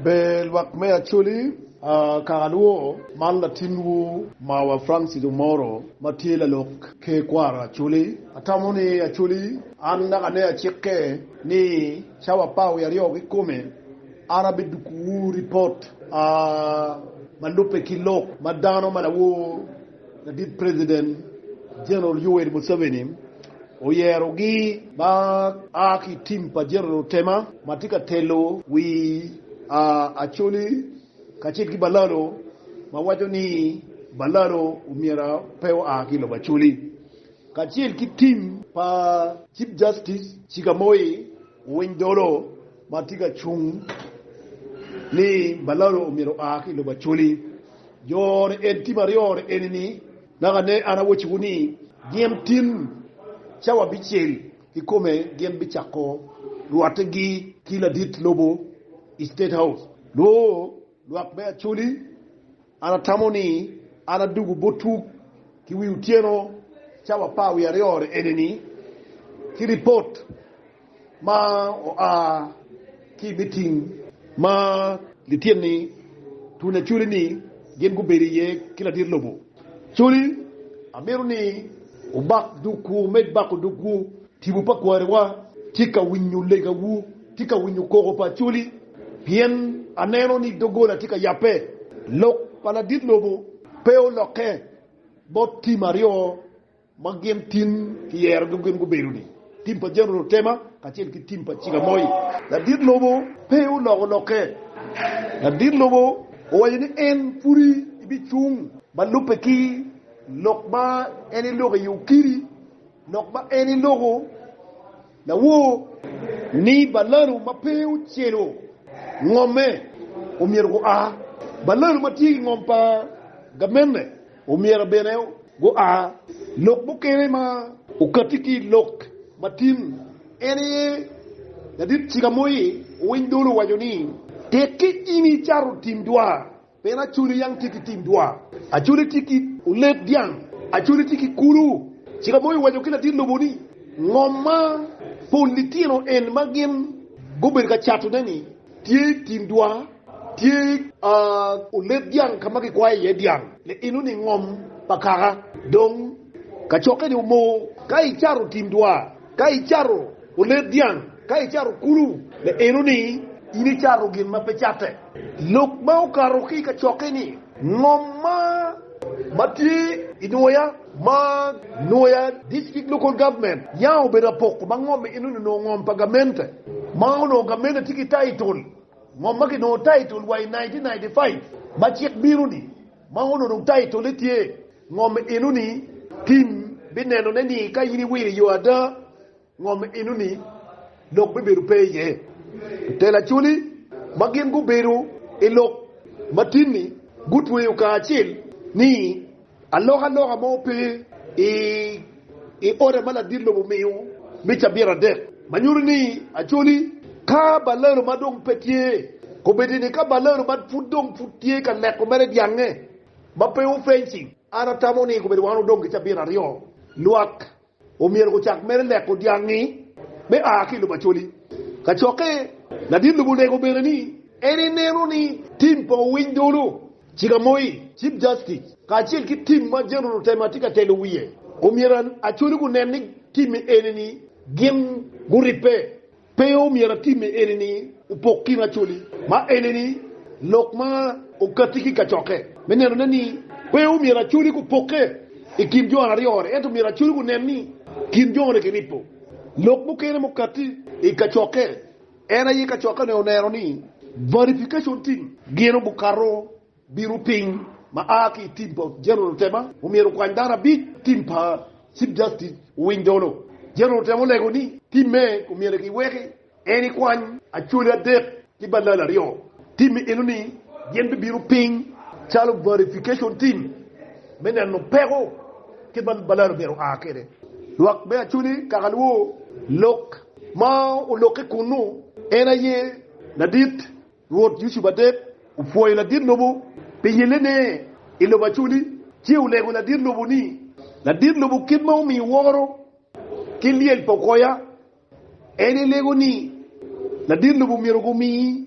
Ber lwak me Acholi, kaka lwoo, man latinwu mawa Francis Omoro ma tye lalok ker kwaro Acholi. Atamo ni Acholi an naka ne acike ni cawa apar wiye aryo kikome an abidukuwu ripot ma lubbe ki lok ma dano ma lawoo. Ladit President General Yoweri Museveni oyerogi ma a ki tim pa General Otema ma tye ka telo wi Acholi kacel ki Balalo ma waco ni Balalo omyero pe oa ki i lobo Acholi kacel ki tim pa Chief Justice Chigamoy Owiny Dolo ma tye ka cung ni Balalo omyero oa ki i lobo Acholi Jo ni en tim aryo ni eni ni, Naka ne an awecci wu ni, gin tin cawa bicel ki kome gin bicako rwate gi ki ladit lobo i state house noo lwak me Acholi, an atamo ni an adugu bot tuk ki wi otyeno cawa pa wi aryo ni eni ni ki report. Ma oa ki i miting ma lityen-ni, tul aculi ni gin gubedo iye ki ladit lobo. Coli, amito ni wubak dogwu. Med bako dogwu. Tipo pa kwariwa tye ka winyo legawu, tye ka winyo koko pa Coli, pien aneno ni doggola tye ka yabbe. Lok pa ladit lobo pe olokke bot tim aryo. ma gin tin kiyerogi gin gubedo ni tim pa General Tema kacel ki tim pa Ciga Moi. Ladit lobo pe oloko lokke. Ladit lobo owaco ni en pudi ibicung ma lubbe ki lok ma en eloko i okiri, lok ma en eloko. Lawor ni balanu ma pe ocelo ngomme omyero gua. Balanu ma tye ki ngom pa gamente omyero bene gua. Lok mukene ma okatti ki i lok matin en aye, Ladit Cikamoye Owiny Dolo owaco ni, Tekke in icato tim dwar Pien Acoli yam tye ki tim dwa, Acoli tye ki olet dyang, Acoli tye ki kulu. Cika mo iwaco ki latin lobo ni, 'Ngo ma pol litino en ma gin gubedo ka catone-ni? Tye tim dwa, tye olet dyang ka ma kikwayo iye dyang, liino-ni ngom pa kaka, dong kacokke-ni omoo. Ka icato tim dwa, Ka icato olet dyang, ka icato kulu, me eno ni in icato gin ma pe catte. Lok ma okato ki i kacokke ni, Ngom ma ma tye i nwoya ma nwoya district local government yam obedo apoko ma ngom eno ni onongo ngom pa gamente ma onongo gamente tye ki title ngom ma ki nongo title wa i nineteen ninety five ma cik bino ni Ma onongo taitole tye Ngom Enoni, tim binenone ni ka in iwilo i yo ada, ngom enoni lok bibedo pe iye. Lutel Acholi ma gin gubedo i lok ma tin-ni gutweyo kacel ni alokaloka mo pe i i oda ma ladit lobo omiyo me cabit adek, ma nyuto ni Acholi ka Balero ma dong pe tye. Kombeddi ni ka Balero ma pud dong pud tye ka neko mere dyangnge ma pe ofenci, an atamo ni kombeddi wan odong ki cabit aryo. Lwak omyero gucak mere neko dyangngi me a ki i lobo Acholi. Kacokke, ladit lobo onego bene ni en ineno ni tim pa owiny dolo. Cik amoyi, Chief Justice, kacel ki tim ma General Rutema tye ka telo wiye, omyero Acholi gunen ni time eni-ni gin guribbe. Pe omyero time eni-ni opok kin Acholi ma eni-ni lok ma okatti ki kacokke me nenone ni pe omyero Acholi gupokke i kin jo aryo-ni ento myero Acholi gunen ni kin jo-ni giripo lok mukene mukatti i kacokke. En aye kacokkane oneno ni verification team gino gukato bino piny ma a ki i team pa General Otema omyero okwany dano abic, team pa Chief Justice owiny dolo. General Otema olego ni team me omyero ki weki en ikwany Acholi adek ki Balala aryo, team eno ni gin bi bino piny calo verification team me neno peko ki ma Balala myero oa kwede. Lwak me Acholi kaka luwo lok. ma olokke kunnu, en aye ladit Rwot Yucup adek, opwoyo ladit lobo pi yellene i lobo Acoli, ci olego ladit lobo ni, Ladit lobo kit ma omiyi woro ki lyel pa okoya, en ilego ni ladit lobo myero gumiyi.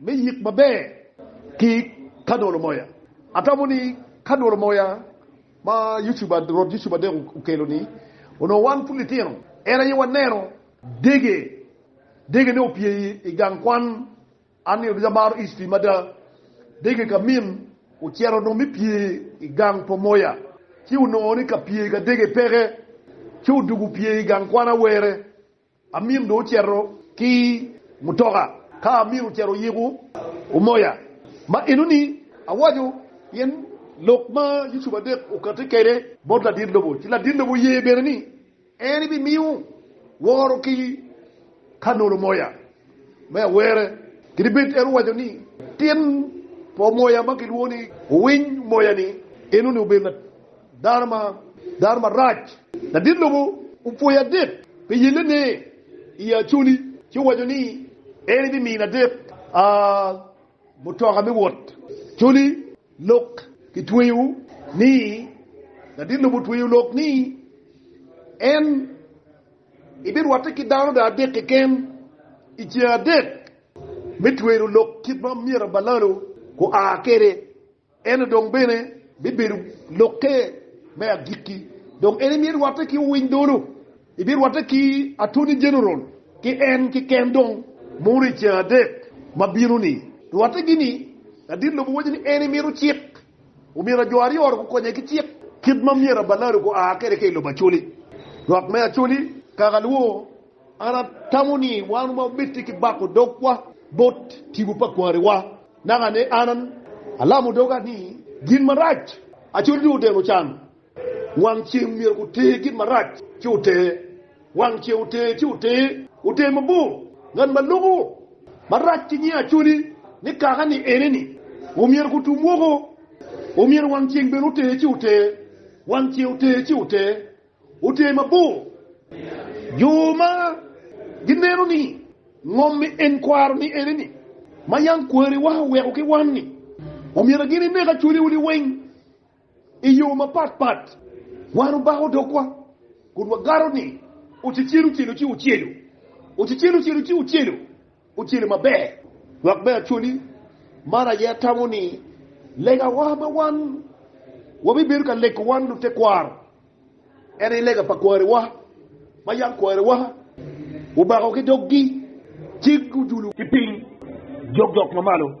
me yik maber ki ka dolo moya. Atamo ni ka dolo moya ma YouTube rwot YouTube adek okelo ni onongo wan pud litino en aye waneno dege dege ne opye i gang kwan an nino ducu amaro history mada dege ka min ocito dong me pye i gang pa moya ci onongo ni ka pye ka dege peke ci odugu pye i gang kwan awere Amim dong ocito ki mutoka ka amir ocito oyiko omoya ma enoni awaco pien lok ma Yucup adek okati kede bot ladit lobo ci ladit lobo oye bene ni en bi miyo woro ki ka nolo moya. me awere. Kadi bed en owaco ni tin pa moya ma kilwongo ni owiny moya-ni en onongo obedo dano marac, ladit lobo opwoye adek pi yellene i Acholi ci owaco ni en ebimiyo ladit mutoka me wot. Acholi lok kitweyo ni ladit lobo otweyo lok ni en. Ibirwatte ki dano dong adek keken i ceng adek me twero lok kit ma myero abalalo gua kwede, ento dong bene bibedo lokke me agikki. Dong en imye rwatte ki owiny dolo, ibirwatte ki Attorney General ki en keken dong mono i ceng adek ma bino-ni. Rwatte gini, ladit lobo waco ni en imito cik Omyero jo aryo ot gukonye ki cik kit ma myero abalado gua kwede ka i lobo Acholi. Lwak me Acholi, kaka alwor, an atamo ni wan wabed tye ki bako dogwa bot tipo pa kwariwa. Naka ni an alamo doga ni gin marac Acholi dong odeno can. Wang ceng myero guter gin marac ci oter, wang ceng oter ci oter, oter mabor. Ngat ma loko marac ki nying Acholi ni kaka ni ene ni, omyero gutum woko. Omyero wang ceng bene oter ci oter, wang ceng oter ci oter, oter mabor. Jo ma gineno ni ngom me en kwaro ni ene ni, ma yam kwariwa oweko ki wan ni, omyero gin inek Acholiwu liweng. I yo mapat pat, wan obako dogwa kun wagato ni ocecel ocel ci ocelo, ocecel ocel ci ocelo, ocelo maber. Lwak me actually, man aye atamo ni legawa ma wan wabibedo ka lego wan lutekwaro, en aye lega pa kwariwa ma yam kwariwa obako ki doggi ci gujulu ki piny jokjok mamalo.